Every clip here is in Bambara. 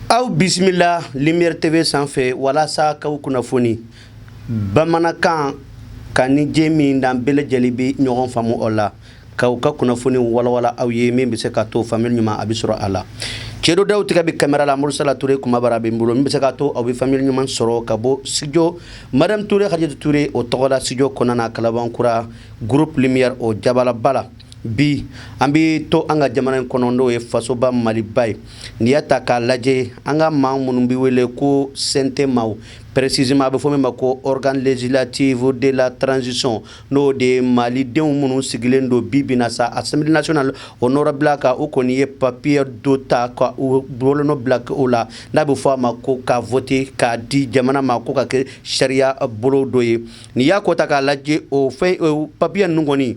aw bisimila lumière tv sanfɛ walasa k'aw kunnafoni bamanankan ka ni jɛ min n'an bɛɛ lajɛlen bɛ ɲɔgɔn faamu o la k'aw ka kunnafoni walawala aw ye min bɛ se ka to faamuyali ɲuman a bɛ sɔrɔ a la cɛdo daw tigɛ bɛ kamera la murusala ture kumabara bɛ n bolo min bɛ se ka to aw bɛ faamuyali ɲuman sɔrɔ ka bɔ studio madame ture hajatu ture o tɔgɔ la studio kɔnɔna na kalabankura groupe lumière o jabalaba la bi an bɛ to an ka jamana in kɔnɔ n'o ye fasoba maliba ye n'i y'a ta k'a lajɛ an ka maa minnu bɛ wele ko CNT maaw précisément a bɛ fɔ min ma ko organe législatif de la transition n'o de ye malidenw minnu sigilen don bi bi in na sa Assemblée nationale o nɔrɔ bila kan u kɔni ye papiye dɔ ta ka u bolonɔ bila kɛ o la n'a bɛ fɔ a ma ko ka voter k'a di jamana ma ko ka kɛ sariya bolo dɔ ye n'i y'a ko ta k'a lajɛ o fɛn papiye in kɔnɔ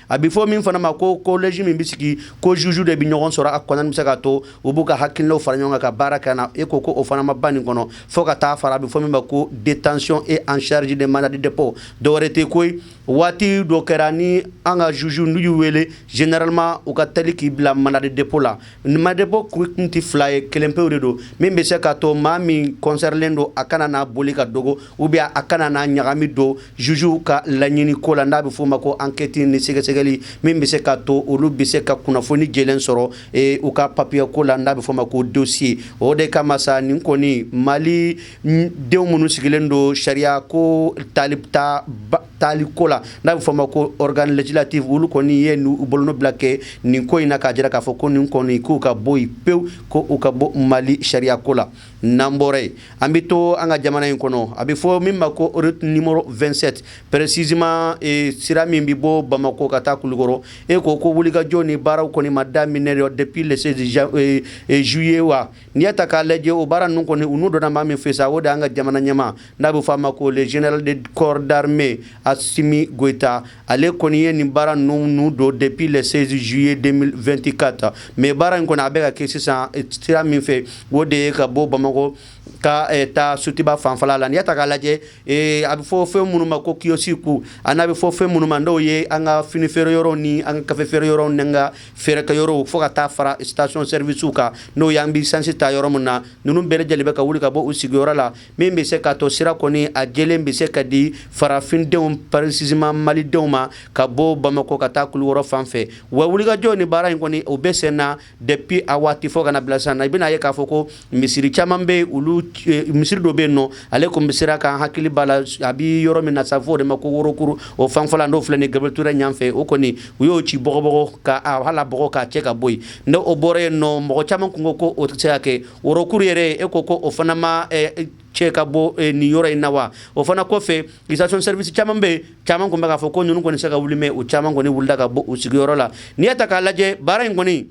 a bɛ fɔ min fana ma ko collège min bɛ sigi ko juge de bɛ ɲɔgɔn sɔrɔ a kɔnɔna bɛ se ka to u b'u ka hakilinaw fara ɲɔgɔn kan ka baara kɛ na e ko ko o fana ma ban nin kɔnɔ fo ka taa fara a bɛ fɔ min ma ko détention et en charge de mandat de dépôt dɔwɛrɛ tɛ koyi waati dɔ kɛra ni an ka juge n'u y'u wele généralement u ka teli k'i bila mandat de dépôt la Mandat de dépôt kun tɛ fila ye kelen pewu de don min bɛ se k'a to maa min concernelen don a kana n'a boli ka dogo ou bien a kana n'a ɲagami don juge ka laɲini ko la n'a bɛ f'o ma ko enquête ni sɛgɛsɛgɛli min bɛ se ka to olu bɛ se ka kunnafoni jɛlen sɔrɔ ee u ka papiye ko la n'a bɛ f'o ma ko dossier o de kama sa nin kɔni mali denw minnu sigilen don sariya ko tali taa taali ko la n'a bɛ f'o ma ko organe législatif olu kɔni ye u bolonɔ bila kɛ nin ko in na k'a jira k'a fɔ ko nin kɔni k'u ka bɔ yen pewu ko u ka bɔ mali sariya ko la n'an bɔra yen an bɛ to an ka jamana in kɔnɔ a bɛ fɔ min ma ko RN 27 précisément sira min bɛ bɔ bamakɔ ka taa kulukɔrɔ e ko ko wulikajɔ ni baaraw kɔni ma daminɛ depuis le 16 juillet wa N'i y'a ta k'a lajɛ o baara ninnu kɔni u nun donna maa min fɛ sa o de y'an ka jamana ɲɛmaa n'a bɛ f'a ma ko le général de corps d'armée Assimi Goïta ale kɔni ye nin baara ninnu nun don depuis le 16 juillet 2024 mais baara in kɔni a bɛ ka kɛ sisan sira min fɛ o de ye ka bɔ Bamakɔ ka eh, taa Sotiba fanfɛla la n'i y'a ta k'a lajɛ eh, a bɛ fɔ fɛn minnu ma ko kiosque a n'a bɛ fɔ fɛn minnu ma n'o ye an ka fini feere yɔrɔw ni an ka kafe feere yɔrɔw ni an ka feerekɛ yɔrɔw fo ka taa fara station service kan n'o y'an bɛ sansi ta yɔrɔ min na ninnu bɛɛ lajɛlen bɛ ka wuli ka bɔ u sigiyɔrɔ la min bɛ se ka to sira kɔni a jɛlen bɛ se ka di farafindenw précisément malidenw ma ka bɔ Bamakɔ ka taa Kulukɔrɔ fan fɛ wa wulikajɔ ni baara in kɔni o bɛ sen na depuis a waati fo ka na bila sisan na i bɛna ye k'a fɔ ko misiri caman bɛ olu eh, misiri dɔ bɛ yen nɔ ale tun bɛ sira kan hakili b'a la a bɛ yɔrɔ min na sa fɔ o de ma ko worokuru o fanfɛla n'o filɛ ni gabriel touré ɲanfɛ o kɔni u y'o ci bɔgɔbɔgɔ ka hal'a bɔgɔ k'a cɛ ka bɔ yen ne o bɔra yen nɔ mɔgɔ caman tun ko ko o tɛ se ka kɛ worokuru yɛrɛ e ko ko o fana ma eh, cɛ ka bɔ eh, nin yɔrɔ in na wa o fana kɔfɛ station service caman bɛ yen caman tun bɛ k'a fɔ ko ninnu kɔni se ka wuli mɛ o caman kɔni wulila ka bɔ u sigiyɔrɔ la n'i y'a ta k'a lajɛ baara in kɔni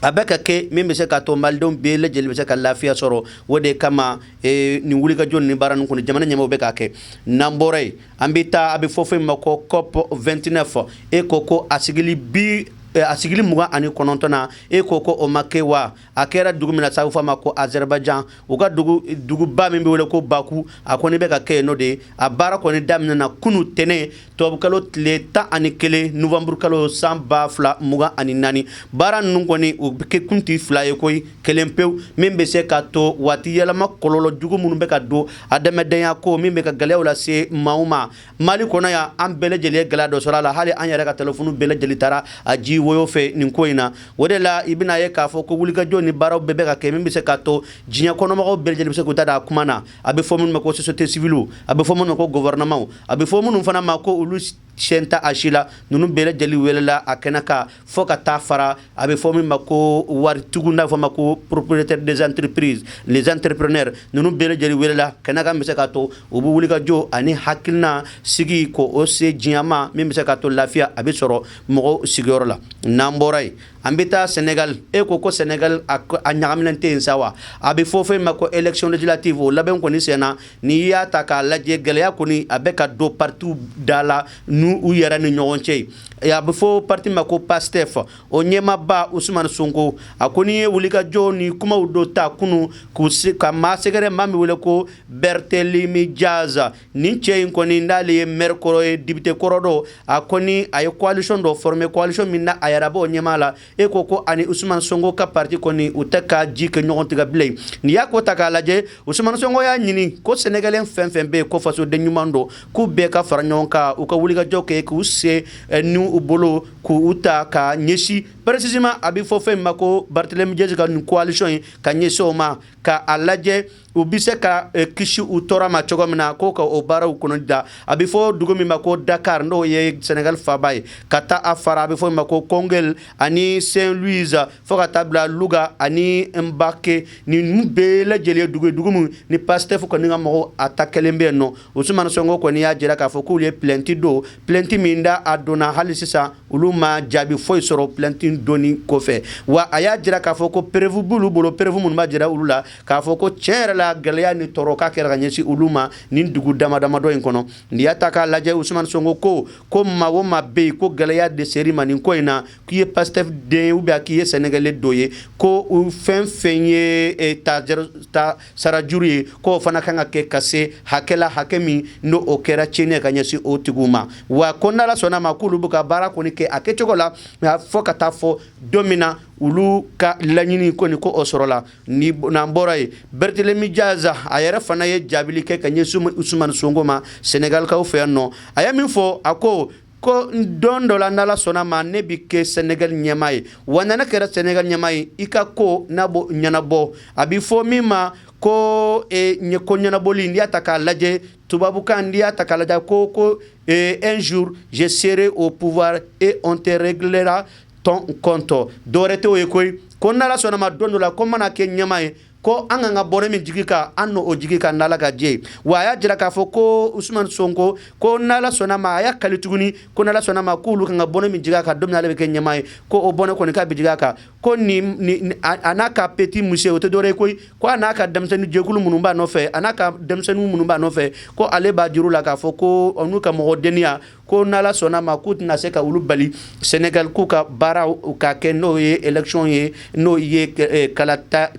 a bɛ ka kɛ min bɛ se ka to malidenw bɛɛ lajɛlen bɛ se ka lafiya sɔrɔ o de kama eh, nin wulikajɔ ni baara ninnu kɔni jamana ɲɛmaaw bɛ k'a kɛ n'an bɔra yen an bɛ taa a bɛ fɔ fɛn ma ko cop 29 e ko ko a sigili bi eh, a sigili mugan ani kɔnɔntɔn na e ko ko o ma kɛ wa a kɛra dugu min na sa u f'a ma ko azɛribajan u ka dugu duguba min bɛ wele ko baku a kɔni bɛ ka kɛ yen nɔ de a baara kɔni daminɛna kunu tɛnɛn Tubabukalo tile tan ani kelen nuwanburukalo san ba fila mugan ani naani baara ninnu kɔni u bɛ kɛ kun tɛ fila ye koyi kelen pewu min bɛ se ka to waati yɛlɛma kɔlɔlɔ jugu minnu bɛ ka don adamadenya ko min bɛ ka gɛlɛyaw lase maaw ma mali kɔnɔ yan an bɛɛ lajɛlen ye gɛlɛya dɔ sɔrɔ a la hali an yɛrɛ ka telefɔni bɛɛ lajɛlen taara a ji woyo fɛ nin ko in na o de la i bɛn'a ye k'a fɔ ko wulikajɔ ni baaraw bɛɛ bɛ ka kɛ min bɛ se ka to diɲɛ kɔnɔmɔgɔw bɛɛ lajɛlen bɛ se k'u ta da a kuma na a bɛ fɔ minnu ma ko société civile a bɛ fɔ minnu ma ko gouvernement a bɛ fɔ minnu fana ma ko olu sen tɛ a si la ninnu bɛɛ lajɛlen welela a kɛnɛ kan fo ka taa fara a bɛ fɔ min ma ko waritigiw n'a bɛ fɔ a ma ko propriétaires des entreprises les entrepreneurs ninnu bɛɛ lajɛlen welela kɛnɛ kan bɛ se k'a to u bɛ wulikajɔ ani hakilina sigi ko o se diɲɛ ma min bɛ se k'a to lafiya a bɛ sɔrɔ mɔgɔw sigiyɔrɔ la n'an bɔra yen An bɛ taa sɛnɛgali e ko ko sɛnɛgali a ɲagaminen tɛ yen sa wa a bɛ fɔ fɛn ma ko élection législative o labɛn kɔni senna n'i y'a ta k'a lajɛ gɛlɛya kɔni a bɛ ka don patiw da la nin u yɛrɛ ni ɲɔgɔn cɛ a bɛ fɔ pati ma ko Pastef o ɲɛmaaba usumani sonko a kɔni ye wulikajɔ ni kumaw dɔ ta kunun k'u se ka maa sɛgɛrɛ maa min bɛ wele ko Barthélémy Diaz nin cɛ in kɔni n'ale ye mɛri kɔrɔ ye député kɔrɔ don a kɔni a ye coalition dɔ former coalition min na a yɛrɛ b'o ɲɛmaa la e ko ko ani Usumani Sonko ka parti kɔni u tɛ ka ji kɛ ɲɔgɔn tigɛ bilen n'i y'a ko ta k'a lajɛ Usumani Sonko y'a ɲini ko sénégalais fɛn fɛn bɛ yen ko fasoden ɲuman don k'u bɛɛ ka fara ɲɔgɔn kan u ka wulikajɔ kɛ k'u sen eh, ni u bolo k'u ta ka ɲɛsin précisément a bɛ fɔ fɛn min ma ko Barthélémy Diaz ka nin coalition in ka ɲɛsin o ma ka a lajɛ U bɛ se ka kisi u tɔɔrɔ ma cogo min na k' ka o baaraw kɔnɔ da a bɛ fɔ dugu min ma ko Dakar n'o ye sɛnɛgali faba ye ka taa a fara a bɛ fɔ ma ko Koungheul ani Saint-Louis fo ka taa bila Louga ani Mbacké nin bɛɛ lajɛlen dugu dugu min ni Pastef kɔni ka mɔgɔw atakelen bɛ yen nɔ Usumani Sonko kɔni y'a jira k'a fɔ k'u ye plainte don plainte min da a donna hali sisan olu ma jaabi foyi sɔrɔ plainte don kɔfɛ wa a y'a jira k'a fɔ ko preuve b'u bolo preuve minnu ma jira olu la k'a fɔ ko tiɲɛ yɛrɛ la gɛlɛya ni tɔɔrɔko kɛra ka ɲɛsin olu ma nin dugu dama damadɔ in kɔnɔ n'i y'a ta k'a lajɛ Usumani Sonko ko ko maa o maa bɛ yen ko gɛlɛya de ser'i ma nin ko in na k'i ye Pastef den ou bien k'i ye Sénégalais dɔ ye ko u fɛn fɛn ye e, ta sarajuru ye k'o fana kan ka kɛ ka se hakɛ la hakɛ min n' o kɛra tiɲɛn ka ɲɛsin o tigiw ma wa ko n'Ala sɔnna a ma k'olu bɛ ka baara kɔni kɛ a kɛcogo la fo ka taa fo don min na olu ka laɲini ko nin ko o sɔrɔla ni n'an bɔra yen Barthélémy Dias a yɛrɛ fana ye jaabili kɛ ka ɲɛsin Usumani Sonko ma Senegalikaw fɛ yan nɔ, a ye min fɔ a ko ko don dɔ la n'Ala sɔnna ma ne bɛ kɛ Senegal ɲɛmaa ye wa ni ne kɛra Senegal ɲɛmaa ye i ka ko n'a b'o ɲɛnabɔ a bɛ fɔ min ma ko e, ɲɛ ko ɲɛnabɔli n'i y'a ta k'a lajɛ tubabukan n'i y'a ta k'a lajɛ ko ko e, un jour je serai au pouvoir et on te réglera ton compte dɔwɛrɛ t'o ye koyi ko n'Ala sɔnna ma don dɔ la ko mana kɛ ɲɛmaa ye ko an kan ka bɔnɛ min jigi a kan an n'o jigi a kan n'Ala ka jɛ wa a y'a jira k'a fɔ ko Usumani Sonko ko n'Ala sɔnna ma a y'a kali tuguni ko n'Ala sɔnna ma k'olu kan ka bɔnɛ min jigin a kan don min na ale bɛ kɛ ɲɛmaa ye ko o bɔnɛ kɔni ka bin a kan ko a n'a ka petit monsieur o tɛ dɔwɛrɛ ye koyi ko a n'a ka denmisɛnnin jɛkulu minnu b'a nɔfɛ a n'a ka denmisɛnnin minnu b'a nɔfɛ ko ale b'a jira u la k'a fɔ ko n'u ka mɔgɔ deniya ko n'Ala sɔnna ma k'u tɛna se ka olu bali sɛnɛgali k'u ka baaraw ka kɛ n'o ye élection ye n'o ye eh,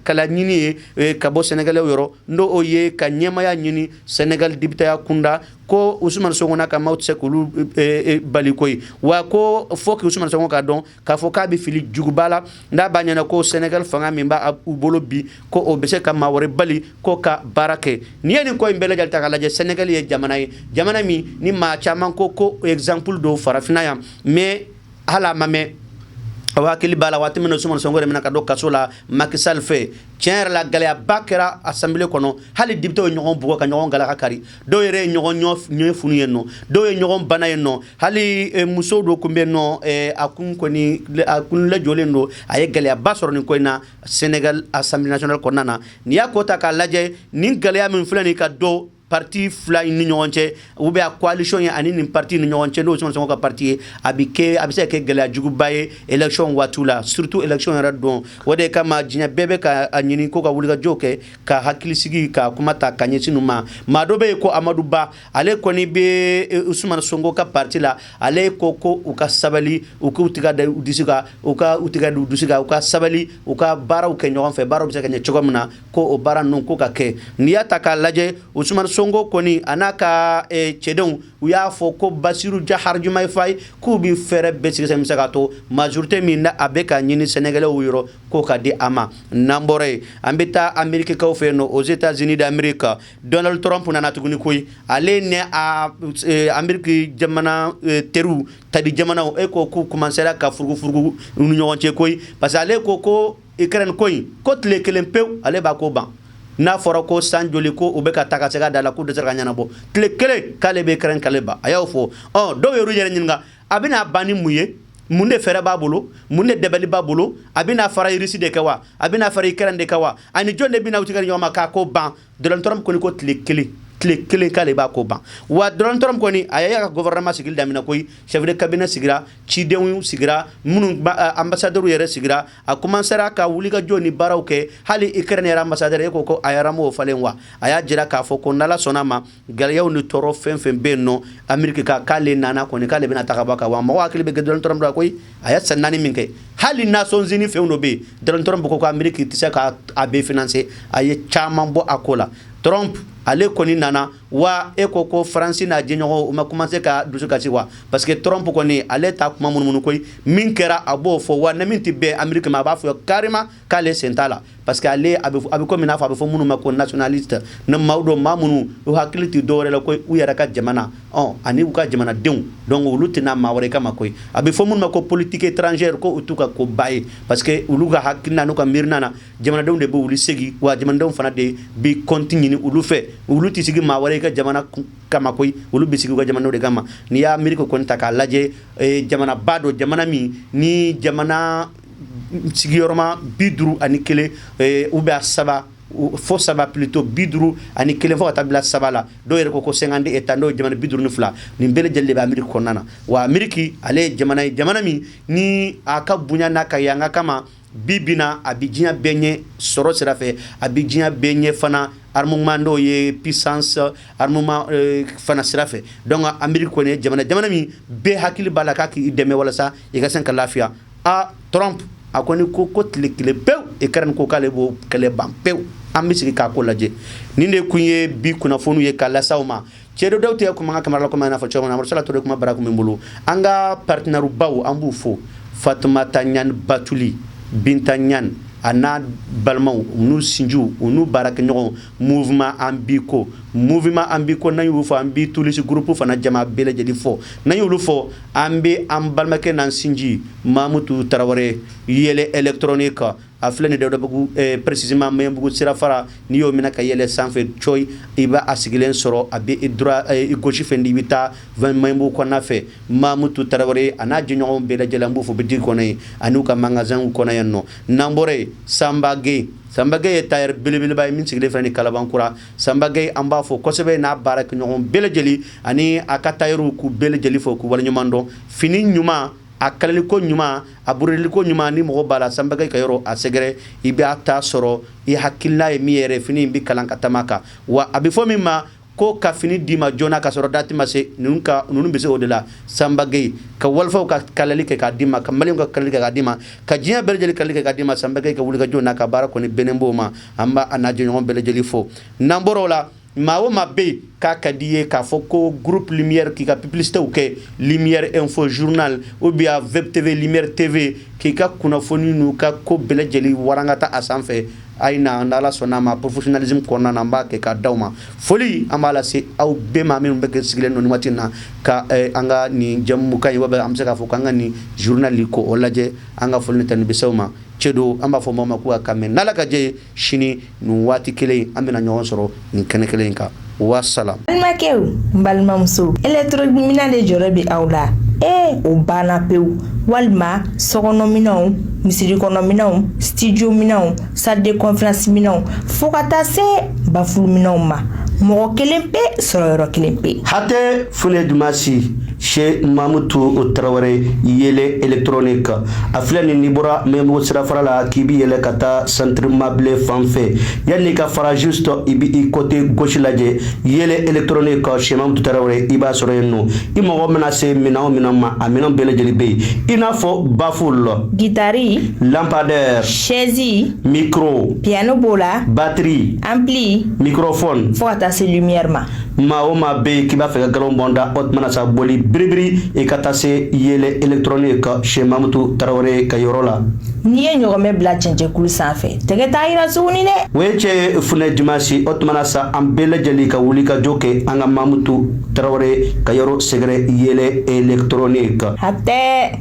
kalaɲini ye eh, ka bɔ Sénégalais yɔrɔ n'o ye ka ɲɛmaya ɲini sɛnɛgali depiteya kunda ko Usumani Sonko n'a ka maaw tɛ se k'olu eh, bali koyi wa ko fo k' Usumani Sonko k'a dɔn k'a fɔ k'a bɛ fili juguba la n'a b'a ɲɛna ko sɛnɛgali fanga min b'a u bolo bi ko o bɛ se ka maa wɛrɛ bali k'o ka baara kɛ n'i ye nin ko in bɛɛ lajɛlen ta k'a lajɛ sɛnɛgali ye jamana ye jamana min ni maa caman ko ko exemple don farafinna yan mais hali a ma mɛn aw hakili b'a la waati min na Usumani Sonko yɛrɛ minɛ ka don kaso la Macky Sall fɛ tiɲɛ yɛrɛ la gɛlɛyaba kɛra assemblée kɔnɔ hali députés ye ɲɔgɔn bugɔ ka ɲɔgɔn galaka kari dɔw yɛrɛ ye ɲɔgɔn ɲɛ funu ye nɔ dɔw ye ɲɔgɔn bana ye nɔ hali muso dɔ tun bɛ nɔ a kun kun lajɔlen don a ye gɛlɛyaba sɔrɔ nin ko in na sɛnɛgali assemblée kɔnɔna na n'i y'a ko ta k'a lajɛ nin gɛlɛya min filɛ nin ka don pati fila in ni ɲɔgɔn cɛ u bɛ a coalition ye ani nin pati ni ɲɔgɔn cɛ n'o Usumani Sonko ka pati ye a bɛ kɛ a bɛ se kɛ gɛlɛya juguba ye élection waati la surtout élection yɛrɛ don o de kama diɲɛ bɛɛ bɛ k'a ɲini ko ka wulikajɔ kɛ ka hakilisigi ka kuma ta ka ɲɛsin u ma maa dɔ bɛ yen ko amadu ba ale kɔni bɛ e, usumana sonko ka parti la ale ko ko u ka sabali u k'u tiga da u disi kan u ka u tiga da u dusu kan u ka sabali u ka baaraw kɛ ɲɔgɔn fɛ baaraw bɛ se ka ɲɛ cogo min na ko o baara ninnu ko ka kɛ n'i y'a ta k'a lajɛ usumana sonko kɔni a n'a ka e, cɛdenw u y'a fɔ ko basiru jahar jumayi fayi k'u bɛ fɛɛrɛ bɛɛ sigi sen bɛ se ka to majorite min na a bɛ k'a ɲini Sénégalaisw yɔrɔ k'o ka di a ma n'an bɔra yen an bɛ taa Amerikikaw fɛ yen nɔ aux États-Unis d'Amérique Donald Trump nana tuguni koyi ale ne Ameriki jamana teriw tali jamanaw e ko k'u commencera ka furukufuruku u ni ɲɔgɔn cɛ koyi parce que ale ko ko Ukraine ko in ko tile kelen pewu ale b'a ko ban n'a fɔra ko san joli ko u bɛ ka taga segin a da la k'u dɛsɛra k'a ɲɛnabɔ tile kelen k'ale bɛ Ukraine kɛlɛ ban a y'o fɔ dɔw y'u yɛrɛ ɲini a bɛna a ban ni mun ye mun de fɛɛrɛ b'a bolo mun de dabali b'a bolo a bɛna fara Irisi de kan wa a bɛna fara Ukraine de kan wa ani jɔn de bɛna u tigɛ di ɲɔgɔn ma k'a ko ban Donald Trump kɔni ko tile kelen tile kelen k'ale b'a ko ban wa Donald Trump kɔni a y'a ka gouvernement sigili daminɛ koyi chef de cabinet sigira cidenw sigira minnu ambassadeur yɛrɛ sigira a commencera ka wuli ka jɔ ni baaraw kɛ hali Ukraine yɛrɛ ambassadeur e ko ko a yɛrɛ m'o falen wa a y'a jira k'a fɔ ko n'Ala sɔnna a ma gɛlɛyaw ni tɔɔrɔ fɛn fɛn bɛ yen nɔ Ameriki kan k'ale nana kɔni k'ale bɛna a ta ka bɔ a kan wa mɔgɔw hakili bɛ Donald Trump la koyi a ye san naani min kɛ hali Nations Unies fɛn dɔ bɛ yen Donald Trump ko ko Ameriki tɛ se ka a bɛɛ financer a ye caman bɔ a ko la Trump ale kɔni nana wa e ko ko faransi n'a jɛɲɔgɔnw u ma commencer ka dusu kasi wa parce que Trump kɔni ale t'a kuma munumunu koyi min kɛra a b'o fɔ wa ni min tɛ bɛn Ameriki ma a b'a fɔ carrément k'ale sen t'a la parce que ale a bɛ komi n'a fɔ a bɛ fɔ minnu ma ko nationaliste ne maaw don maa minnu u hakili tɛ dɔwɛrɛ la ko u yɛrɛ ka jamana ɔ ani u ka jamanadenw donc olu tɛ na maa wɛrɛ kama koyi a bɛ fɔ minnu ma ko politique étrangère ko o t'u ka koba ye parce que olu ka hakilina n'u ka miirina na jamanadenw de bɛ olu sigi wa jamanadenw fana de bi compte ɲini olu fɛ olu tɛ sigi maa wɛrɛ ka jamana kama koyi olu bɛ sigi u ka jamanaw de kama n'i ye Ameriki kɔni ta k'a lajɛ eh, jamanaba don jamana min ni jamana sigiyɔrɔma bi duuru ani kelen ou bien saba fo saba plutôt bi duuru ani kelen fo ka taa bila saba la dɔw yɛrɛ ko ko cinquante États n'o ye jamana bi duuru ni fila nin bɛɛ lajɛlen de bɛ Ameriki kɔnɔna na wa Ameriki ale ye jamana ye jamana min ni a ka bonya n'a ka yanga kama bi bi in na a bɛ diɲɛ bɛɛ ɲɛ sɔrɔ sira fɛ a bɛ diɲɛ bɛɛ ɲɛ fana armement n'o ye puissance fana sira fɛ donc Ameriki kɔni jamana jamana min bɛɛ hakili b'a la k'a k'i dɛmɛ walasa i ka se ka lafiya aa Trump a kɔni ko ko tile kelen pewu Ukraine ko k'ale b'o kɛlɛ ban pewu an bɛ sigi k'a ko lajɛ nin de tun ye bi kunnafoni ye k'a lase aw ma cɛ dɔw tɛ kuma an ka kamera la kɔmi n y'a fɔ cogo min na sala ture kuma bara min bolo an ka partenaire baw an b'u fo fatumata ɲani batuli binta ɲani a n'a balimaw n'u sinjiw u n'u baarakɛɲɔgɔnw Mouvement an biko mouvement an biko n'an y'u fo an bi tulisi groupe fana jama bɛɛ lajɛlen fo n'an y'olu fo an bɛ an balimakɛ n'an sinji mamutu tarawele yɛlɛ électronique a filɛ nin dabugu précisément maɲanbugu sirafara n'i y'o minɛ ka yɛlɛ sanfɛ coyi i bɛ a sigilen sɔrɔ a bɛ i gauche fɛ i bɛ taa maɲanbugu kɔnɔna fɛ mamutu tarawele a n'a jɛɲɔgɔn bɛɛ lajɛlen b'u fo boutique kɔnɔ yen ani n'u ka magasinw kɔnɔ yan nɔ n'an bɔra yen sanba gɛyi Sanba gɛyi ye tailleur belebeleba ye min sigilen filɛ nin kalabankura sanba gɛyi an b'a fo kosɛbɛ n'a baarakɛɲɔgɔn bɛɛ lajɛlen ani a ka tailleurw k'u bɛɛ lajɛlen fo k'u waleɲuman dɔn fini ɲuman a kalaliko ɲuman a burudiko ɲuman ni mɔgɔ b'a la sanba gɛyi ka yɔrɔ a sɛgɛrɛ i b'a ta sɔrɔ i hakilina ye min yɛrɛ fini in bɛ kalan ka taama kan wa a bɛ fɔ min ma ko ka fini d'i ma joona ka sɔrɔ dati ma se ninnu ka ninnu bɛ se o de la sanba gɛyi ka wɔlɔfɔw ka kalali kɛ k'a d'i ma ka mali ka kalali kɛ k'a d'i ma ka diɲɛ bɛɛ lajɛlen kalali kɛ k'a d'i ma sanba gɛyi ka wulikajɔ n'a ka baara kɔni bɛnnen b'o ma an b'a n'a jɛɲɔgɔn bɛɛ lajɛlen fo n'an bɔra o la maa o ma bɛ yen k'a ka d'i ye k'a fɔ ko groupe lumière k'i ka publicité kɛ lumière info journal ou bien web TV lumière TV k'i ka kunnafoni n'u ka ko bɛɛ lajɛlen warangata a sanfɛ a ye na n'ala sɔnn'a ma professionnalisme kɔnɔna na an b'a kɛ k'a di aw ma foli an b'a lase aw bɛɛ ma minnu bɛ kɛ sigilen nin waati in na ka an ka nin jɛmukan ye wa an bɛ se k'a fɔ k'an ka nin journal ko o lajɛ an ka foli ni tanu bi se aw ma cɛ don an b'a fɔ maa ma k'o ka mɛn n'ala ka jɛ sini nin waati kelen an bɛna ɲɔgɔn sɔrɔ nin kɛnɛ kelen in kan wasalamu balimakɛw n balimamusow électronique minɛn de jɔrɔ bɛ aw la ee o banna pewu walima sokɔnɔminɛnw misirikɔnɔminɛnw studio minɛnw salle de conférence minɛnw fo ka taa se baffle minɛnw ma mɔgɔ kelen pe sɔrɔyɔrɔ kelen pe hatɛ funɛ dimansi sɛ mamutu tarawele yɛlɛ électronique a filɛ nin n'i bɔra maɲanbugu sirafara la k'i bɛ yɛlɛ ka taa centre mabile fan fɛ yanni ka fara juste i bɛ i côté gauche lajɛ yɛlɛ électronique sɛ mamutu tarawele i b'a sɔrɔ yen nɔ i mago mana se minɛn o minɛn ma a minɛn bɛɛ lajɛlen bɛ yen i n'a fɔ baffle gitari lampadaire sɛzi mikoro piyano b'o la batiri anpili mikrofɔn fo ka taa se lumière ma maa o maa bɛ yen k'i b'a fɛ ka nkalon bɔ n da o tuma na sa boli biribiri i ka taa se yɛlɛ elegitoroniki Sɛ Mamutu Tarawele ka yɔrɔ la. N'i ye ɲɔgɔmɛ bila cɛncɛnkulu sanfɛ, tɛgɛ t'a jira tuguni dɛ. O ye cɛ ye funɛ dimansi, o tuma na sa an bɛɛ lajɛlen ka wulikajɔ kɛ an ka Mamutu Tarawele ka yɔrɔ sɛgɛrɛ yɛlɛ elegitoroniki. Hatɛ!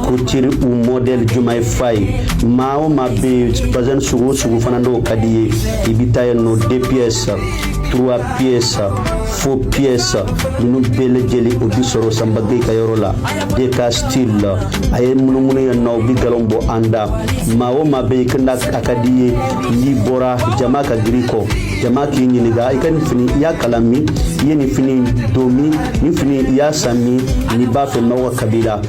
Kutiri u mɔdɛli jumɛn ye fa ye maa o maa bɛ yen bazɛn sugu o sugu fana n'o ka d'i ye i bɛ taa yen nɔ de piyɛsi turuwa piyɛsi fo piyɛsi ninnu bɛɛ lajɛlen o bɛ sɔrɔ Sanba Gɛyi ka yɔrɔ la de ka stili la a ye munumunu yen nɔ u bɛ galon bɔ an da maa o maa bɛ yen kanda a ka d'i ye n'i bɔra jama ka girin i kɔ jama k'i ɲininka i ka nin fini i y'a kala min i ye nin fini don min nin fini i y'a san min n'i b'a fɛ mɔgɔ ka bila